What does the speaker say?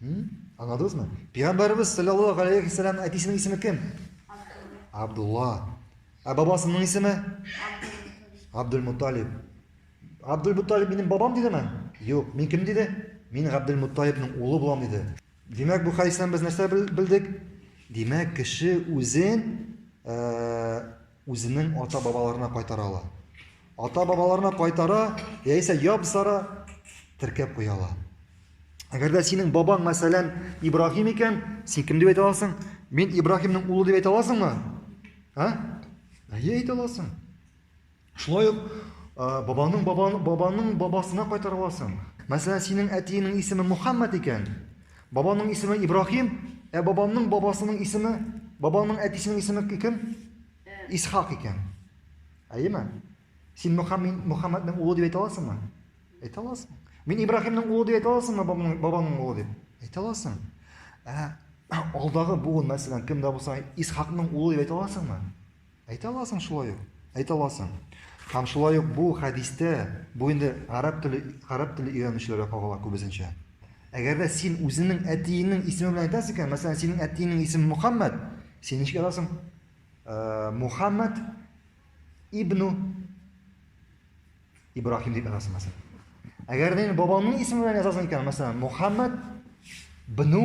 Аңладыңызмы? Пәйгамбәрбез саллаллаһу алейхи ва саллям әтисенең исеме кем? Абдулла. Ә бабасының исеме? Абдул Муталиб. Абдул Муталиб минем бабам дидеме? Юк, мин кем диде? Мин Абдул Муталибның улы булам диде. Димәк, бу хәдистән без нәрсә белдек? Димәк, кеше үзен Үзенең ата-бабаларына кайтара ала. Ата-бабаларына кайтара, яисә яп-сара теркәп куя ала. Әгәр дә синең бабаң, мәсәлән, Ибраһим икән, син кем дип әйтә аласың? Мин Ибраһимның улы дип әйтә аласыңмы? Ә? Әйе, әйтә аласың. Шулай ук бабаның бабаның бабасына кайтара аласың. Мәсәлән, синең әтиеңнең исеме Мухаммад икән, Бабамның исеме Ибрахим, ә бабамның бабасының исеме, бабамның әтисенең исеме кем? Исхак икән. Әйеме? Син Мөхәммәд Мөхәммәднең улы дип әйтә аласыңмы? Әйтә аласың. Мин Ибрахимның улы дип әйтә аласыңмы, бабамның бабамның улы дип? Әйтә аласың. Ә алдагы буын мәсәлән кемдә булса Исхакның улы дип әйтә аласыңмы? Әйтә аласың шулай ук. Әйтә аласың. Һәм шулай ук бу хәдистә, бу инде гарәп теле, гарәп теле өйрәнүчеләргә кагыла күбесенчә. Әгәр дә син үзеңнең әтиеңнең исеме белән әйтәсең икән, мәсәлән, синең әтиеңнең исеме Мухаммад, син ничек язасың? Э, Мухаммад ибну Ибрахим дип язасың, мәсәлән. Әгәр дә бабаңның исеме белән язасың икән, мәсәлән, Мухаммад бну